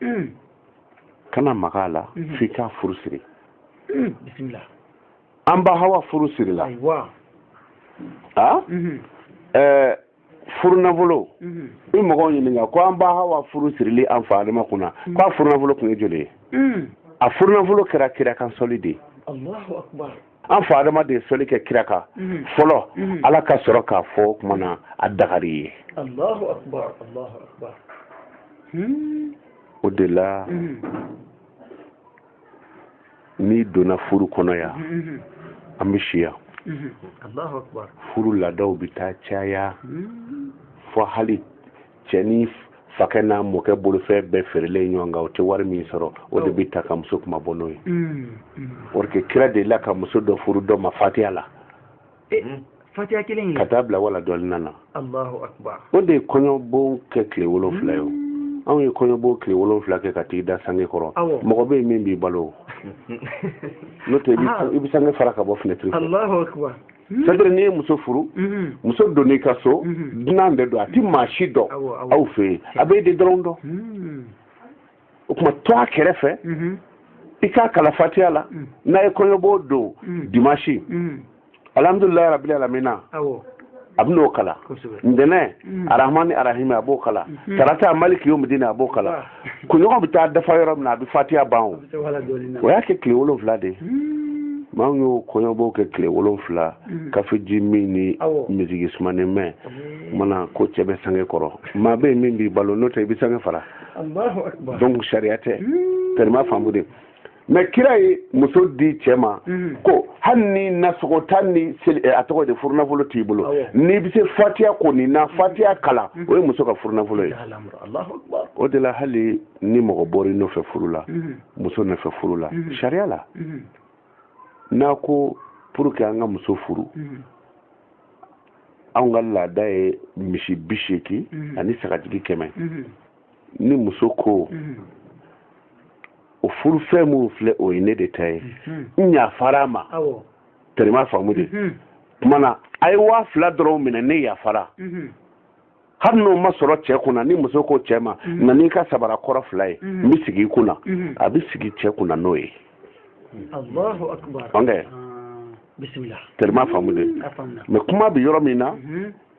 mm. kana maga a la mm-hmm. f'i k'a furu siri mm. an ba hawa furu sirila a mm-hmm. eh, furu nafolo mm-hmm. i mɔgɔw ɲininka ko an ba hawa furu sirili an fa adama kunna mm. k'a furu nafolo tun ye joli ye a furu nafolo kɛra kira kan sɔli de ye an fa adama de ye sɔli kɛ kira kan mhm. fɔlɔ mhm. ala ka sɔrɔ k'a fɔ o tuma na a dagar'i ye hmm. o de la mhm. n'i donna furu kɔnɔ yan an bɛ si yan furu laadaw bɛ taa caya hmm. fɔ hali cɛ n'a fakɛ n'a mɔkɛ bolofɛn bɛɛ feerelen ɲɔgɔn kan o tɛ wari min sɔrɔ o de bɛ ta ka muso kuma bɔ n'o ye mm, mm. or que kira delila ka muso dɔ furu dɔ ma fatiya la eh, mm. fatiya kelen ka taa bila waladɔɔlina na o de ye kɔɲɔbon kɛ tile wolonfila ye o anw ye kɔɲɔbon tile wolonfila kɛ ka t'i da sange kɔrɔ mɔgɔ bɛ yen min b'i balo n'o tɛ i bɛ sange fara ka bɔ finɛtiri fɛ Hmm. c'est-à-dire n'i ye muso furu hmm. muso donn'i ka so hmm. dunan de don a ti maa si dɔn aw fɛ yen a b'e de dɔrɔn dɔn o tuma to a kɛrɛfɛ i k'a kalan fatiya la n'a ye kɔɲɔbon don dimasi alhamdulilayi rabili alamina a bɛ n'o kalan ntɛnɛn arahmani arahimi a b'o kalan tarata maliki yomidini a b'o kalan kunɲɔgɔn bɛ taa dafa yɔrɔ min na a bɛ fatiya ban o o y'a kɛ tile wolonfila de ye hmm. maa min y'o kɔɲɔbon kɛ tile wolonfila hmm. kafe ji min ni miziki sumanen mɛn hmm. mana ko cɛ bɛ sange kɔrɔ maa bɛ yen min b'i balo n'o tɛ i bɛ sange fara donc sariya tɛ tɛrɛma faamu de mais kira ye muso di cɛ ma mhm. ko hali ni nasɔngɔ tan ni eh, a tɔgɔ di furunafolo t'i bolo n'i bɛ se fatiya ko nin na mhm. fatiya kalan mhm. o ye muso ka furunafolo ye o de la hali ni mɔgɔ bɔra i nɔfɛ furu la muso nɔfɛ furu la sariya la n'a ko pour que an ka muso furu anw ka laada ye misi bi seegin ani sagajigi kɛmɛ ni muso ko o furufɛn minnu filɛ o ye ne de ta ye mhm. n yafara a ma tɛrɛma faamu de mhm. kumana a ye waa fila dɔrɔn minɛ ne yafara mhm. hali n'o ma sɔrɔ cɛ kunna ni muso ko cɛ ma na n'i ka sabara kɔrɔ fila ye n bɛ sigi i kun na a bɛ sigi cɛ kunna n'o ye tɛrɛma faamu de mɛ kuma bɛ yɔrɔ min na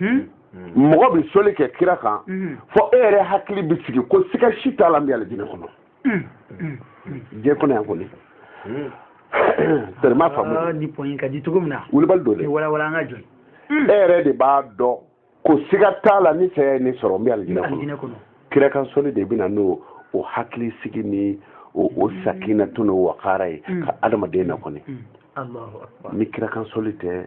hmm? Hmm. mɔgɔ bɛ soli kɛ kira kan hmm. fɔ e yɛrɛ hakili bɛ sigi ko siga si t'a la n bɛ alijinɛ kɔnɔ diɲɛ kɔnɔ yan kɔni tɛrɛma faamu ah, ni pɔnyi ka di cogo min na wulibali don dɛ walawala an ka jɔ e yɛrɛ de b'a dɔn ko siga t'a la ni saya ye ne sɔrɔ n bɛ alijinɛ kɔnɔ kira kan soli de bɛ na n'o hakili sigi ni o sakinatu n'o wakara ye ka adamaden na kɔni ni kira kan soli tɛ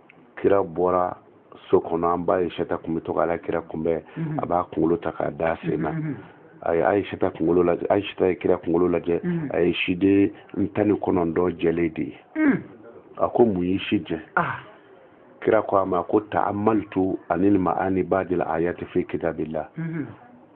kira bɔra so kɔnɔ an ba ayisata kun bɛ to ka ala kira kunbɛn mhm. a b'a kunkolo ta k'a da sen na mhm. a ye ayisata kunkolo lajɛ ayisata ye kira kunkolo lajɛ mhm. a ye siden tan ni kɔnɔntɔn jɛlen de ye a ko mun y'i si jɛ ah. kira ko a ma ko taamalitu ani maani badil ayati fi kitabillah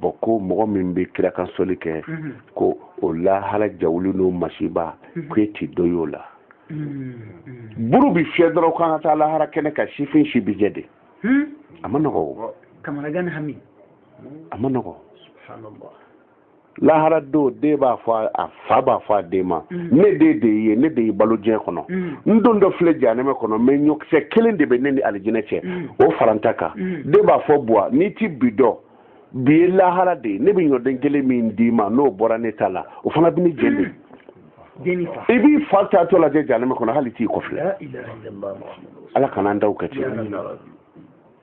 bɔn ko mɔgɔ min bɛ kira kan soli kɛ mm-hmm. ko o lahara jawuli n'o masiba mm-hmm. ko e ti dɔ y'o la mm-hmm. buru bi fiyɛ dɔrɔn k'an ka taa lahara kɛnɛ kan sifin si bi jɛ dɛ hmm? a ma nɔgɔ o a ma nɔgɔ lahara don den b'a fɔ a fa b'a fɔ a den ma mm. ne den de i ye ne de y'i balo diɲɛ kɔnɔ mm. n dontɔ filɛ janɛmɛ kɔnɔ mɛ ɲɔkisɛ kelen de bɛ ne ni alijinɛ cɛ mm. o fara n ta kan den b'a fɔ buwa n'i ti bi dɔn bi ye lahara de ye ne bɛ ɲɔden kelen min d'i ma n'o bɔra ne ta la o fana bɛ ne jeni i b'i fa taatɔ lajɛ janɛmɛ kɔnɔ hali t'i kɔ filɛ ala kana an ta kɛ ten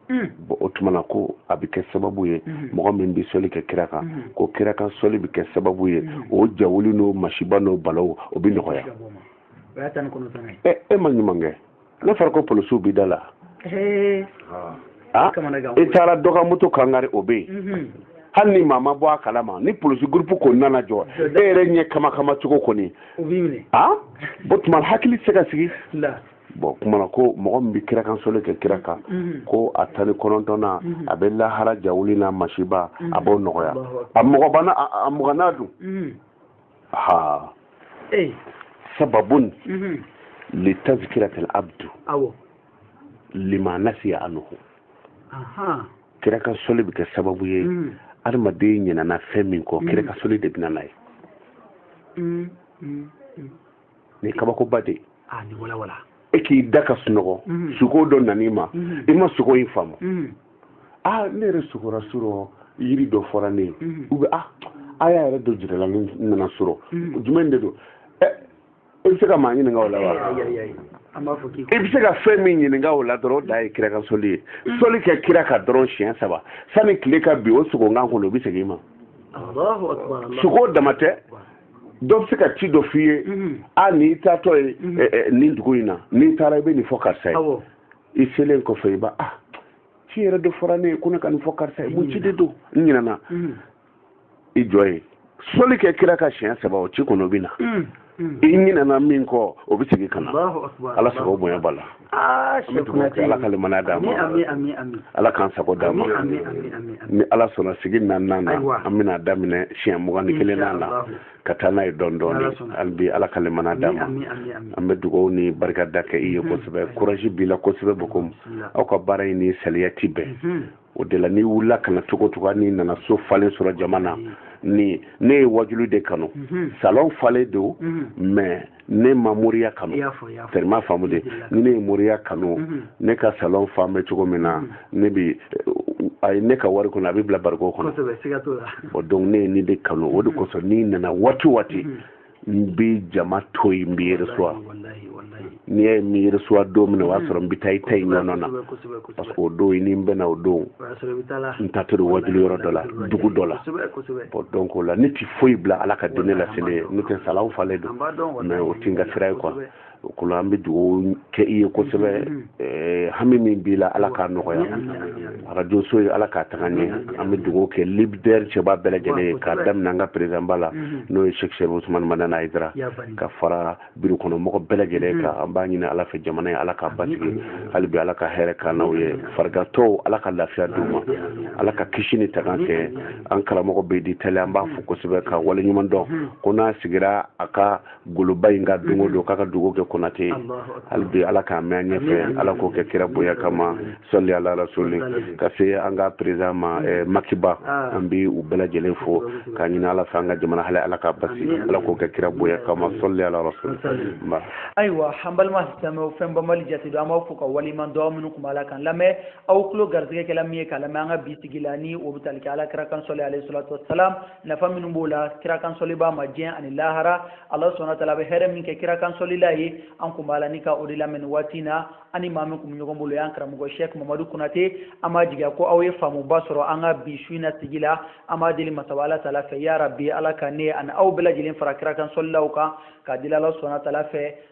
bɔn o tuma na ko a bɛ kɛ sababu ye mɔgɔ min bɛ soli kɛ kira kan ko kira kan soli bɛ kɛ sababu ye o jawuli n'o masiba n'o balaw o bɛ nɔgɔya e ma ɲuman kɛ n'a fɔra ko polisiw bɛ da la Ah, i taara dɔgɔmuto kangari o bɛ yen mhm. hali ni maa ma bɔ a kalama ni polisi gurupu ko nana jɔ e yɛrɛ ɲɛ kamakama cogo kɔni o tuma hakili se ka sigi bɔn kumana ko mɔgɔ min bɛ kira kan soli kɛ kira kan mhm. ko a tan ni kɔnɔntɔnnan mhm. a bɛ lahara jawuli n'a masiba a mhm. b'o nɔgɔya a mɔgɔ ma a mugannan dun ha sababun li tazkiratil abdu lima nasiya anhu kira kan soli bɛ kɛ sababu ye adamaden ɲinana fɛn min kɔ kira kan soli de bɛ na n'a ye nin kabakoba de ah, e k'i da ka sunɔgɔ mhm. sugo dɔ nan'i ma mhm. i ma sugo in faamu mhm. a ah, ne yɛrɛ sugora surɔ yiri dɔ fɔra ne ye u bɛ a a y'a yɛrɛ don jirala ne nana surɔ jumɛn de don ɛ eh, i bɛ se ka maa ɲininka o la wa i bɛ se ka fɛn min ɲininka o la dɔrɔn o de ye kira kan soli ye soli kɛ kira kan dɔrɔn siɲɛ saba sani tile ka bi o sugo in kan kɔnɔ o bɛ segin i ma sugo dama tɛ dɔ bɛ se ka ci dɔ f'i ye mhm. a n'i taatɔ ye mhm. eh, eh, nin dugu in na n'i taara i bɛ nin fɔ karisa ye i selen kɔfɛ i ba ah ci yɛrɛ de fɔra ne ye ko ne ka nin fɔ karisa ye mun ci de don n ɲinɛna mhm. i jɔ ye soli kɛ kira kan siɲɛ saba o ci kɔnɔ o bɛ na i ɲinɛna min kɔ o bɛ segin ka na ala sago bonya b'a la Ah, an bɛ dugawu kɛ ala ka limaniya d'an ma ala k'an sago d'an ma ni ala sɔnna sigi naaninan na an bɛna daminɛ siɲɛ mugan ni kelennan na ka taa n'a ye dɔɔni dɔɔni hali bi ala ka limaniya d'an ma an bɛ dugawu ni barika da kɛ i ye kosɛbɛ courage b'i la kosɛbɛ bon comme aw ka baara in ni saliya ti bɛn o de la n'i wulila ka na cogo cogo n'i nana so falen sɔrɔ jama na mm. ni ne ye wajulu de kanu mm-hmm. salon falen don mm-hmm. mais ne ma moriya kanu i m'a faamu dɛ ni ne ye moriya kanu mm-hmm. ne ka salon falen bɛ cogo min na ne bi a ye ne ka wari kɔni a bɛ bila bariko kɔnɔ donc ne ye nin de kanu o de kosɔn n'i nana waati waati n bɛ jama to yen n bɛ i recevoir n'i y'a ye n bɛ i recevoir don min na o y'a sɔrɔ n bɛ taa i ta in ɲɔgɔn na parce que o don i ni n bɛnna o don n taatɔ don wajuli yɔrɔ dɔ la dugu dɔ la bon donc o la ne ti foyi bila ala ka diinɛ laseli ɲɛ n'o tɛ salon falen don mais o ti n ka sira ye quoi o kɔnɔ an bɛ dugawu kɛ i ye kosɛbɛ eh, hami min b'i la ala k'a nɔgɔya arajo so ye ala k'a taga ɲɛ an bɛ dugawu kɛ lidɛri cɛba bɛɛ lajɛlen ye k'a daminɛ an ka perezidanba la n'o ye sɛki sɛrifu usumani madani ayidara ka fara biro kɔnɔ mɔgɔ bɛɛ lajɛlen kan an b'a ɲini ala fɛ jamana ye ala k'a basigi hali bi ala ka hɛrɛ k'an n'aw ye farigantɔw ala ka lafiya d'u ma ala ka kisi ni tanga kɛ an karamɔgɔ bɛdi tali an b'a fo kosɛbɛ ka waleɲuman dɔn ko n'a sigira a ka goloba in kan don o don k'a ka dugawu kɛ konate ye hali bi ala k'a mɛn an ɲɛfɛ ala k'o kɛ kira bonya kama sɔli ala rasuli ka se an ka perezidan ma eh, maki ba ah. an bi u bɛɛ lajɛlen fo k'a ɲini ala fɛ an ka jamana hali ala k'a basigi ala k'o kɛ kira bonya kama sɔli ala rasuli ayiwa an balima silamɛw fɛn banbali jate don an b'aw fo ka waleɲuman dɔn minnu kun b'a la k'an lamɛn aw tulo garisigɛ kɛra min ye k'a lamɛn an ka bi sigi la ni o bɛ tali kɛ ala kira kan sɔli alayhi salatu wasalam nafa minnu b'o la kira kansɔlibaa ma diɲɛ ani lahara ala subhana tala bɛ hɛrɛ min kɛ kira kansɔlila ye an kun b'a la ni ka o de lamɛn nin waati na an ni maa min kun bɛ ɲɔgɔn bolo o y'an karamɔgɔ shɛk mamadu konate an b'a jigiya ko aw ye faamuba sɔrɔ an ka bi su in na sigi la an b'a deli masaba ala tala fɛ yarabi ala ka ne ani aw bɛɛ lajɛlen fara kira kansɔlilaw kan k'a deli ala subhana tala fɛ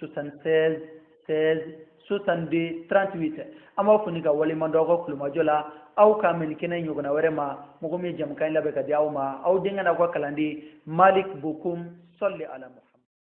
76 16 62 38 an b'aw fo ni k'aw waleɲumandɔn aw ka tulomajɔ la ala k'an bɛn kɛnɛ ɲɔgɔnna wɛrɛ ma mɔgɔ min ye jɛmukan in labɛn k'a di aw ma aw denkɛ n'aw ka kalanden malik bokum sɔli ala muhammad